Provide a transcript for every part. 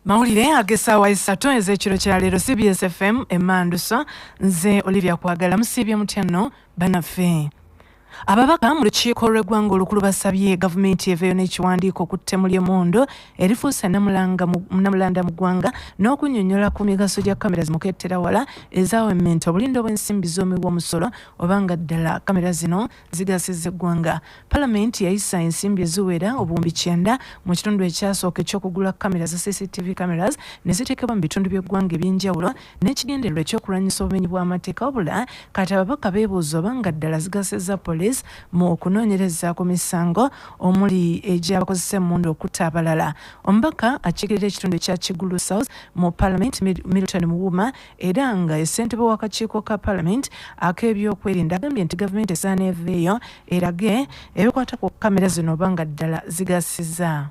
mawulire ag'essaawa essatu ez'ekiro kya leero cbs fm emandusa nze olivia kwagala musiibye mutya nno banaffe ababaka mu lukiiko lw'eggwanga olukulu basabye gavumenti eveeyo n'ekiwandiiko ku ttemu ly'emundu erifuuse namulanda mu ggwanga n'okunyonyola ku migaso gya kamera zimukettera wala ezawemmenta obulindo bw'ensimbi z'omiwa omusolo oba nga ddala kamera zino zigasiza eggwanga palamenti yayisa ensimbi eziwera obuwumbi kyenda mu kitundu ekyasooka ekyokugula kamera za cctv cameras ne ziteekebwa mu bitundu by'eggwanga eby'enjawulo n'ekigendererwa ekyokulwanyisa obumenyi bw'amateeka wabula kati ababaka beebuuza oba nga ddala zigasiza poliisi mu okunoonyereza ku misango omuli egy'abakozesa emmundu okutta abalala omubaka akiikirira ekitundu ekya kigulu south mu palamenti milton muwuma era nga ye ssentebe w'akakiiko ka palamenti ak'ebyokwerinda agambye nti gavumenti esaana eveeyo erage ebikwata ku kamera zino oba nga ddala zigasiza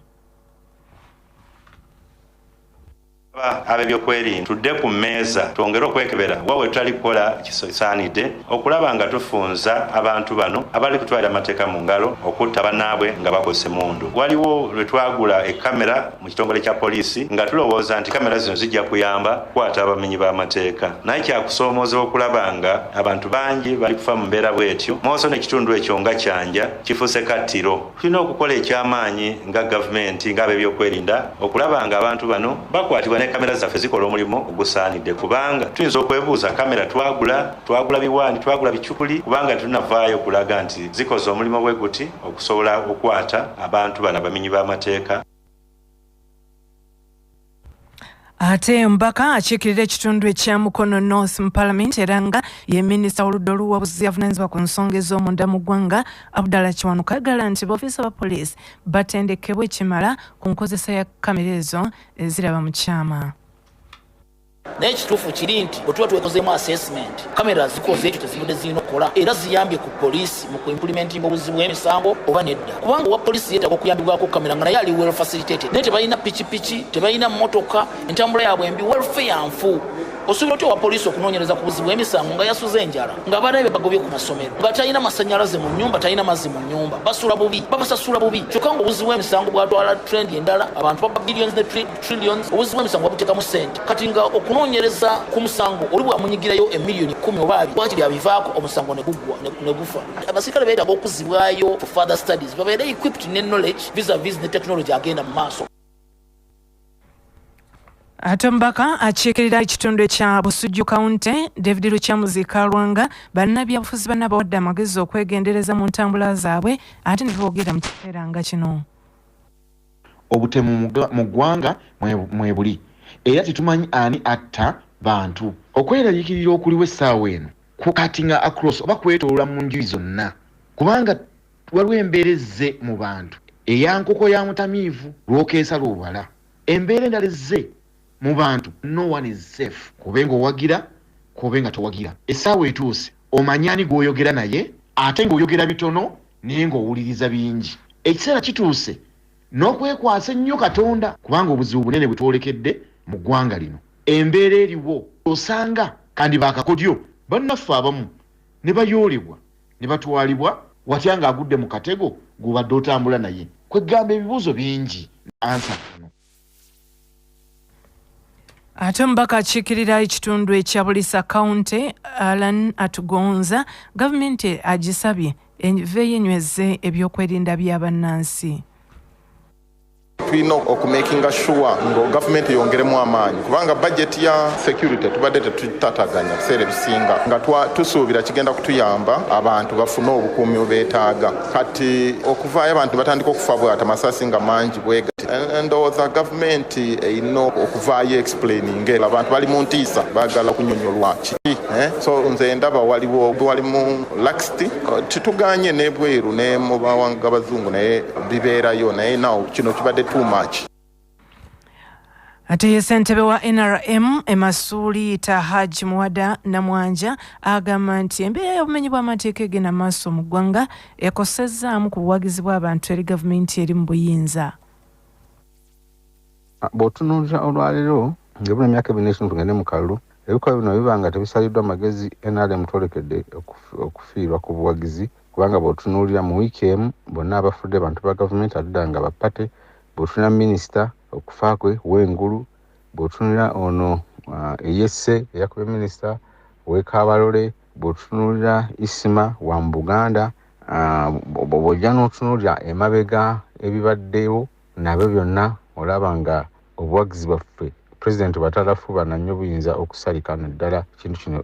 abebyokwerinda tudde ku mmeeza twongere okwekebera wa we tutali kukola kisaanidde okulaba nga tufunza abantu bano abali kutwalira amateeka mu ngalo okutta banaabwe nga bakozesa emundu waliwo lwe twagula ekamera mu kitongole kya poliisi nga tulowooza nti kamera zino zijja kuyamba kukwata abamenyi b'amateeka naye kyakusoomooza okulaba nga abantu bangi bali kufa mu mbeera bwetyo mooso n'ekitundu ekyo nga kyanja kifuuse kattiro tulina okukola eky'amaanyi nga gavumenti ng'ab'ebyokwerinda okulaba nga abantu bano bakwatibwa ne kamera zaffe zikola omulimu ogusaanidde kubanga tuyinza okwebuuza kamera twagula twagula biwaani twagula bicupuli kubanga tunavaayo okulaga nti zikoze omulimu bwe guti okusobola okukwata abantu bano abamenyi b'amateeka ate mbaka akiikirira ekitundu ekya mukono north mu palamenti era nga ye minisita w'oludda oluwabuzi avunanyizibwa ku nsonga ez'omunda mu ggwanga abdala kiwanuka agala nti boofiisa ba poliisi batendekebwa ekimala ku nkozesa ya kamera ezo eziraba mu kyama naye ekituufu kiri nti bwe tuba twekozeemu assessment kamera zikoze ekyo tezibadde zirina okukola era ziyambye ku poliisi mu kuimpulimentinga obuzi bw'emisango oba nedda kubanga owa poliisi yeetaaga okuyambibwako kamera nga naye ali well facilitated naye tebalina pikipiki tebalina mmotoka entambula yaabwe embi welfare nfu osobola otya owa poliisi okunoonyereza ku buzi bw'emisango nga yasuze enjala nga abaana be bagobye ku masomero nga talina masannyalaze mu nnyumba talina mazzi mu nnyumba basula bubi babasasula bubi kyokka nga obuzi bw'emisango bwatwala trendi endala abantu baba billions ne trillions obuzi bw'emisango babuteekamu ssente kati nga okunoonyereza ku musango oli bwamunyigirayo emiliyoni kumi oba abiri wakiri abivaako omusango ne guggwa ne gufa abasirikale beetaaga okuzibwayo for further studies babeere equipped ne knowledge visa vis ne technology agenda mu maaso ate omubaka akiikirira ekitundu ekya busujju kawunte david lukyamuzi kalwanga bannabyabufuzi banna bawadde amagezi okwegendereza mu ntambula zaabwe ate ne boogera mu kiseera nga kino Obutemu mu ggwanga mwebuli era tetumanyi ani atta bantu. Okweraliikirira okuliwo essaawa eno kukatinga across oba kwetoloola mu njuyi zonna kubanga waliwo embeera ezze mu bantu eya nkoko ya mutamiivu lw'okeesa lw'obala. Embeera endala ezze mu bantu no one is safe k'obe ng'owagira k'obe nga towagira essaawa etuuse. omanyi ani gw'oyogera naye ate ng'oyogera bitono naye ng'owuliriza bingi ekiseera kituuse n'okwekwasa ennyo katonda kubanga obuzibu bunene bwe twolekedde mu ggwanga lino embeera eriwo osanga kandi baakakodyo bannaffe abamu ne bayoolebwa ne batwalibwa watya ng'agudde mu katego gw'obadde otambula naye kweggamba ebibuuzo bingi ansa kano ate omubaka akiikirira ekitundu ekya bulisa kawunti alan atugonza gavumenti agisabye eveeyo enyweze ebyokwerinda bya bannansi tulina okumakinga shuwa nga gavumenti eyongeremu amaanyi kubanga bajeti ya security tubadde tetutataganya biseera ebisinga nga tusuubira kigenda kutuyamba abantu bafune obukuumi bwebeetaaga kati okuvaayo abantu batandika okufa bwata masasi nga mangi bwega ndowooza gavumenti erina okuvaayo explaining ela abantu bali mu ntiisa bagala okunyonyolwa kiki eh? so nze ndaba waliwo wali mu laxity tituganye nebweru ne mu bawanga bazungu naye bibeerayo naye naw kino kibadde too much ate ye ssentebe wa nrm emasuuli tahaj muwada namwanja agamba nti embeera y'obumenyi bw'amateeka egenda maaso mu ggwanga ekosezzaamu ku buwagizi bw'abantu eri gavumenti eri mu buyinza ah, bw'otunuulira olwaleero ngaebula emyaka ebiri n'ekimu tugende mu kalulu ebikolwa bino biba nga tebisaliddwa magezi nrm twolekedde okufiirwa ku buwagizi kubanga bw'otunuulira mu wiiki emu bonna abafudde bantu ba gavumenti adda nga bapate bwotuna minisita okufa kwe wengulu bwotunulira ono uh, eyesse eyakube minisita wekabalole bwotunulira isima wa mu buganda uh, bwojja notunulira emabega ebibaddewo nabyo byonna olaba nga obuwagizi bwaffe pulezidenti batalafuba nanyo buyinza okusalika naddala ekintu kino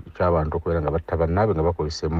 ekyabantu okubeera nga batta bannaabwe nga bakozesemu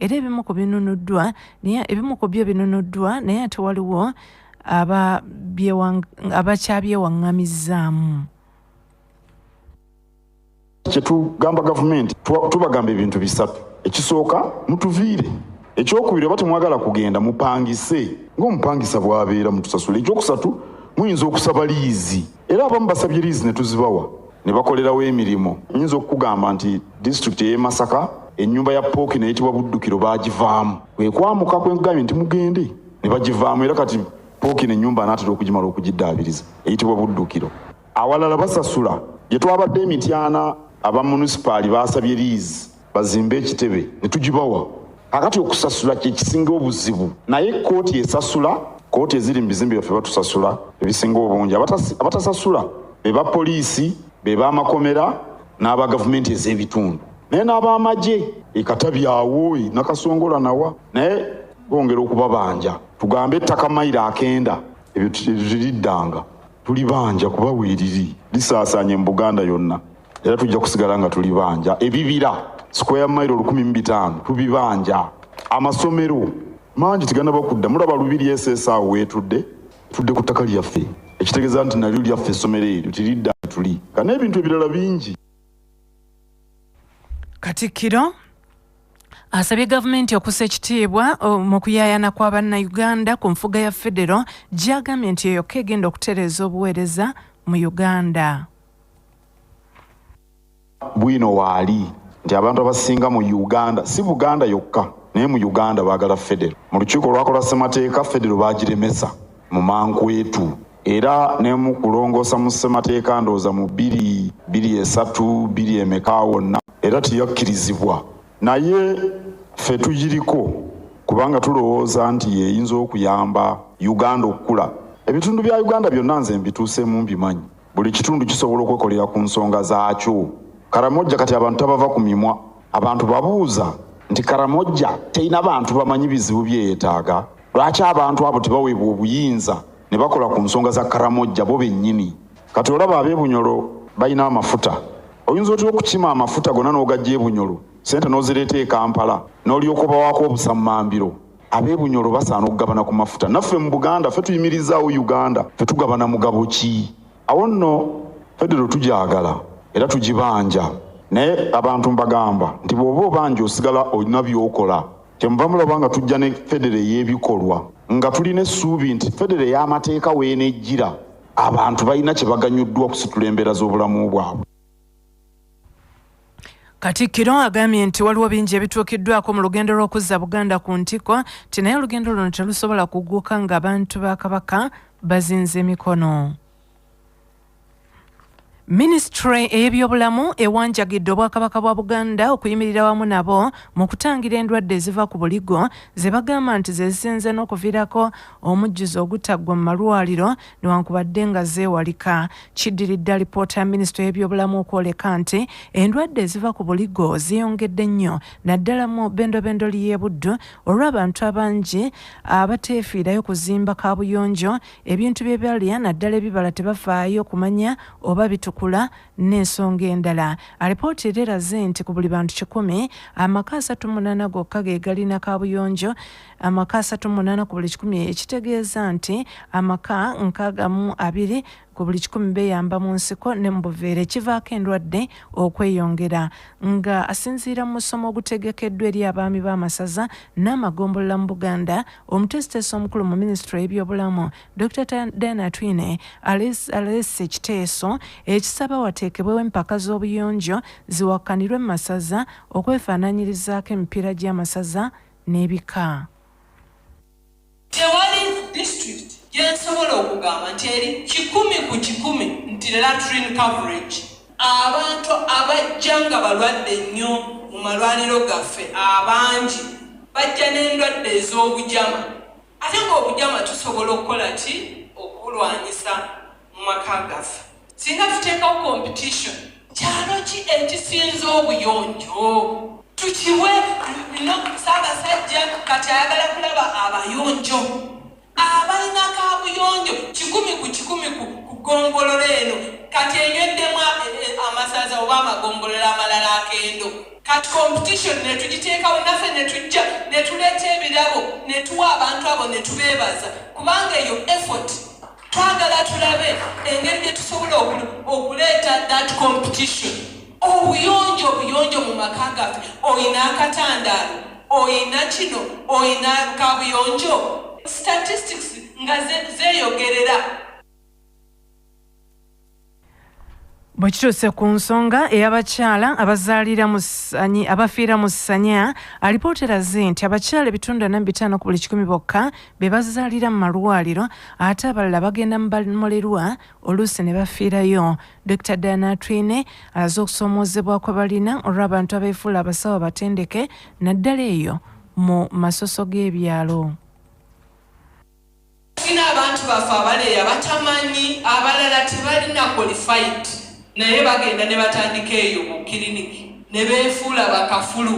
era ebimu ku binunuddwa naye ebimu ku byo binunuddwa naye ate waliwo abakyabyewaŋŋamizzaamu kyetugamba gavumenti tubagamba ebintu bisatu ekisooka mutuviire ekyokubiri oba temwagala kugenda mupangise ngaomupangisa bwabeera mutusasula ekyokusatu muyinza okusaba liizi era abamu basabye liizi ne tuzibawa ne bakolerawo emirimu. Nyinza okukugamba nti disitulikiti ey'e Masaka ennyumba ya Pooki neyitibwa Buddukiro baagivaamu kwe kwamuka kwe nkugambye nti mugende ne bagivaamu era kati Pooki n'ennyumba anaatera okugimala okugiddaabiriza eyitibwa Buddukiro. Awalala basasula gye twabadde e Mityana aba munisipaali baasabye liizi. bazimbe ekitebe ne tugibawa kakati okusasula kyekisinga obuzibu naye kkooti esasula kkooti eziri mu bizimbe byaffe batusasula ebisinga obungi abatasasula be ba poliisi be bamakomera n'aba gavumenti ez'ebitundu naye n'abamagye ekatabyawo e nakasongola nawa naye bongera okubabanja tugambe ettaka mayiro akenda ebyo tiriddanga tulibanja kuba weeriri lisaasaanye mu buganda yonna era tujja kusigala nga tulibanja ebibira square mile olukumi mu bitaano tubibanja amasomero mangi tigana bakudda mulaba lubiri esesa wetudde tudde ku ttaka lyaffe ekitegeeza nti nalyo lyaffe essomero eryo tiridda tuli nga n'ebintu ebirala bingi katikkiro asabye gavumenti okusa ekitiibwa mu kuyayana kwa bannayuganda ku nfuga ya federo gyagambye nti eyokka egenda okutereeza obuweereza mu uganda bwino waali nti abantu abasinga mu uganda si buganda yokka naye mu uganda baagala federo mu lukiiko olwakola ssemateeka federo baagiremesa mu mankwetu era nemu kulongoosa mu ssemateeka ndowooza mu biri biri esatu biri emeka wonna era teyakkirizibwa naye ffe tugiriko kubanga tulowooza nti yeyinza okuyamba uganda okukula ebitundu bya uganda byonna nze mbituuseemu mbimanyi Buli kitundu kisobola okwekolera ku nsonga zaakyo. Karamojja kati abantu tabava ku mimwa. Abantu babuuza nti Karamojja terina bantu bamanyi bizibu bye yeetaaga? Lwaki abantu abo tebaweebwa obuyinza ne bakola ku nsonga za Karamojja bo bennyini? Kati olaba ab'e Bunyoro balina amafuta. Oyinza otya okukima amafuta gonna n'ogajja e Bunyoro, ssente n'ozireeta e Kampala n'olyoka obawaako obusammambiro? ab'e Bunyoro basaana okugabana ku mafuta. Naffe mu Buganda ffe tuyimirizaawo Uganda, ffe tugabana mugabo ki? Awo nno federo tugyagala era tugibanja, naye abantu mbagamba nti bw'oba obanja osigala olina by'okola. Kyemuva mulaba nga tujja ne federo ey'ebikolwa nga tulina essuubi nti federo ey'amateeka w'enejjira abantu balina kye baganyuddwa okusitula embeera z'obulamu bwabwe. Katikkiro agambye nti waliwo bingi ebituukiddwako mu lugendo lw'okuzza Buganda ku ntikko nti naye olugendo luno terusobola kugguka ng'abantu ba Kabaka bazinze emikono. minisitule ey'ebyobulamu ewanjagidde obwakabaka bwa buganda okuyimirira wamu nabo mu kutangira endwadde eziva ku buligo ze bagamba nti zezisinze n'okuviirako omujjuzo ogutaggwa mu malwaliro newankubadde nga zeewalika kiddiridde alipoota ya minisita y'ebyobulamu okwoleka nti endwadde eziva ku buligo zeeyongedde nnyo naddala mu bendobendo ly'ebuddu olw'abantu abangi abateefiirayo kuzimba kaabuyonjo ebintu bye balya naddala ebibala tebafaayo kumanya oba bitukula n'ensonga endala alipoota era eraze nti ku buli bantu kikumi amaka asatu munaana gokka ge galina kaabuyonjo amaka asatu mu munaana ku buli kikumi ekitegeeza nti amaka nkaaga mu abiri ku buli kikumi beyamba mu nsiko ne mu buveera ekivaako endwadde okweyongera nga asinziira mu musomo ogutegekeddwa eri abaami b'amasaza n'amagombolola mu buganda omuteesiteesi omukulu mu minisitule y'ebyobulamu dr diana twine aleese ekiteeso ekisaba wateekebwewo empaka z'obuyonjo ziwakkanirwe mu masaza okwefaananyirizaako emipiira gy'amasaza n'ebika. Tewali district gyensobola okugamba nti eri kikumi ku kikumi nti latrine coverage. Abantu abajja nga balwadde nnyo mu malwaliro gaffe abangi bajja n'endwadde ez'obujama. Ate ng'obujama tusobola okukola ki okubulwanyisa mu maka gaffe? Singa tuteekawo competition, kyalo ki ekisinza obuyonjo? Tukiwe no Ssaabasajja kati ayagala kulaba abayonjo abalina kabuyonjo kikumi ku kikumi ku gombolola eno kati enyweddemu amasaza oba amagombolola amalala akendo. Kati competition netugiteekawo naffe netujja netuleeta ebirabo netuwa abantu abo netubeebaza kubanga eyo effort twagala tulabe engeri gyetusobola okuleeta that competition obuyonjo obuyonjo mu maka gaffe olina akatandaalo olina kino olina kabuyonjo statistics nga zeyogerera bwe kituuse ku nsonga ey'abakyala abazaalira mu ssanyi abafiira mu ssanya alipoota eraze nti abakyala ebitundu ana mu bitaano ku buli kikumi bokka be bazaalira mu malwaliro ate abalala bagenda mu bamolerwa oluusi ne bafiirayo dr diana twine alaze okusoomoozebwa kwe balina olw'abantu abeefuula abasawo abatendeke naddala eyo mu masoso g'ebyalo Tulina abantu baffe abaleeya batamanyi, abalala tebalina qualified naye bagenda ne batandika eyo mu kiriniki ne beefuula bakafulu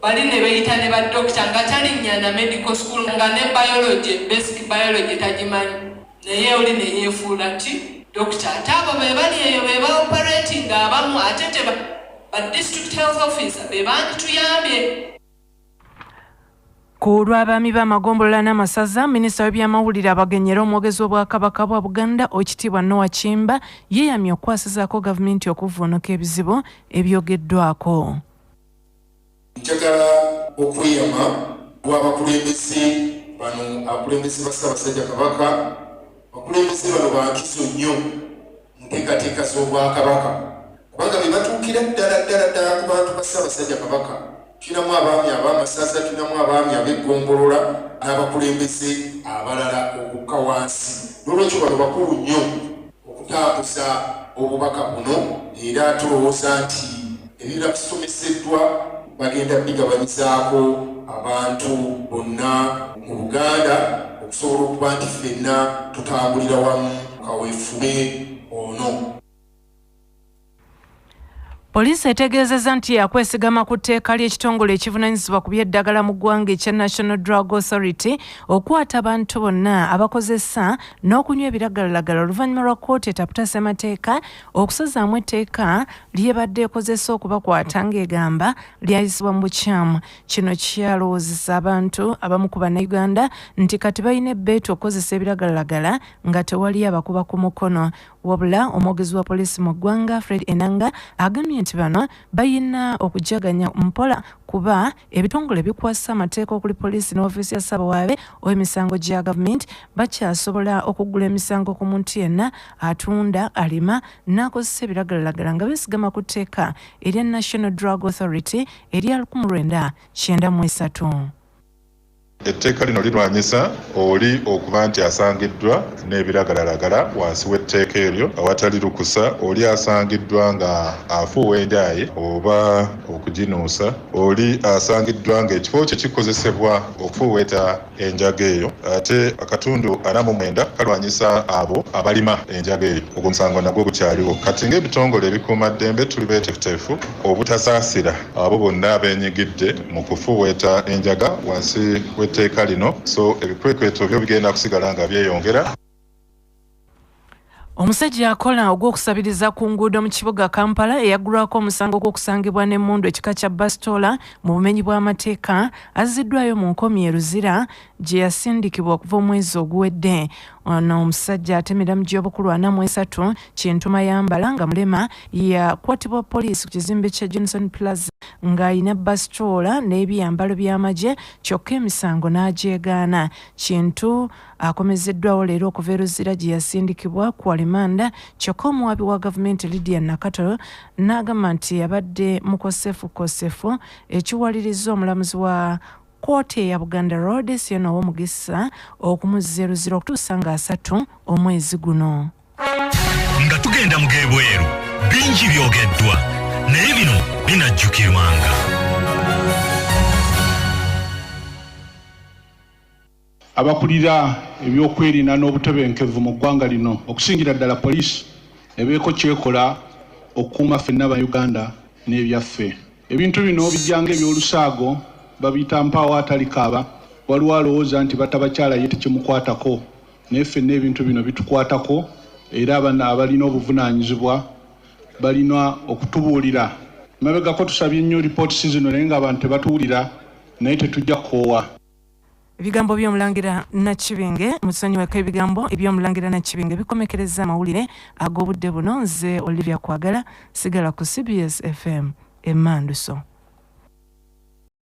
bali ne beeyita ne badokita nga talinnya na medical school nga ne biology basic biology tagimanyi naye oli ne yeefuula ti dokita ate abo be bali eyo be baoperating abamu ate te ba district health officer be bandituyambye. ku lw'abaami b'amagombolola n'amasaza minisita w'ebyamawulire abagenyi era omwogezi w'obwakabaka bwa buganda okitiibwa noa kimba yeeyamye okukwasizaako gavumenti okuvvuunuka ebizibu ebyogeddwako njagala okweyama bw'abakulembeze bano akulembeze ba ssaabasajja kabaka abakulembeze bano bankizo nnyo mu nteekateeka z'Obwakabaka kubanga be batuukira ddala ddala ddala ku bantu ba Ssaabasajja Kabaka. Tulinamu abaami ab'amasaza, tulinamu abaami ab'eggombolola n'abakulembeze abalala okukka wansi. N'olwekyo bano bakulu nnyo okutambuza obubaka buno era tulowooza nti Ebibira bisomeseddwa bagenda bigabanyizaako abantu bonna mu Buganda okusobola okuba nti ffenna tutambulira wamu kaweefube ono. Poliisi etegeezezza nti yakwesigama ku tteeka ly'ekitongole ekivunanyizibwa ku by'eddagala mu ggwanga ekya National Drug Authority okukwata abantu bonna abakozesa n'okunywa ebiragalalagala oluvannyuma lwa kkooti etaputa ssemateeka okusazaamu etteeka lyebadde ekozesa okubakwata ng'egamba lyayisibwa mu bukyamu kino kyalowoozesa abantu abamu ku bannayuganda nti kati balina ebbeetu okukozesa ebiragalalagala nga tewali abakuba ku mukono wabula omwogezi wa poliisi mu ggwanga fred enanga agambye nti bano balina okujaganya mpola kuba ebitongole bikwasa amateeka okuli poliisi n'ofiisi ya ssabawaabe ow'emisango gya gavumenti bakyasobola okuggula emisango ku muntu yenna atunda alima n'akozesa ebiragalalagala nga beesigama ku tteeka erya national drug authority erya 1993 Etteeka lino lirwanyisa oli okuba nti asangiddwa n'ebiragalalagala wansi w'etteeka eryo awatali lukusa, oli asangiddwa nga afuuwa enjaaye oba okuginuusa, oli asangiddwa nga ekifo kye kikozesebwa okufuuweeta enjaga eyo. Ate akatundu ana mu mwenda kalwanyisa abo abalima enjaga eyo. Ogwo omusango nagwo gukyaliwo kati ng'ebitongole ebikuuma ddembe tuli beetefuteefu obutasaasira. abo bonna abenyigidde mu kufuuweeta enjaga wansi w'etteeka lino so ebikwekweto byo bigenda kusigala nga byeyongera omusajja akola ogw'okusabiriza ku nguudo mu kibuga kampala eyaggulwako omusango gw'okusangibwa n'emmundu ekika kya basitoola mu bumenyi bw'amateeka azziddwayo mu nkomi e luzira gye yasindikibwa okuva omwezi oguwedde ono omusajja atemera mu gy'obukulu ana mu esatu kintu mayambala nga mulema yakwatibwa poliisi ku kizimbe kya johnson plaza ng'alina basitoola n'ebyambalo by'amagye kyokka emisango n'agyegaana kintu akomezeddwawo leero okuva eruzira gye yasindikibwa ku alimanda kyokka omuwaabi wa gavumenti lydia nakato n'agamba nti yabadde mukosefukosefu ekiwaliriza omulamuzi wa Kkooti eya Buganda Road si yona ow'omugisa okumuzza eruzira okutuusa nga asatu omwezi guno. Nga tugenda mu g'ebweru bingi byogeddwa naye bino binajjukirwanga. Abakulira eby'okwerinda n'obutebenkevu mu ggwanga lino okusingira ddala poliisi ebeeko kyekola okukuuma ffenna ba Uganda n'ebyaffe. Ebintu bino bijjanga eby'olusaago babiyita mpaawo atalikaaba, waliwo alowooza nti batta bakyala ye tekimukwatako naye ffenna ebintu bino bitukwatako era abalina obuvunaanyizibwa balina okutubuulira. Emabegako tusabye nnyo reports zino naye nga abantu tebatuwulira naye tetujja kukoowa. ebigambo by'omulangira nakibinge musonyiweko ebigambo eby'omulangira nakibinge bikomekereza amawulire ag'obudde buno nze olivia kwagala sigala ku cbs fm emanduso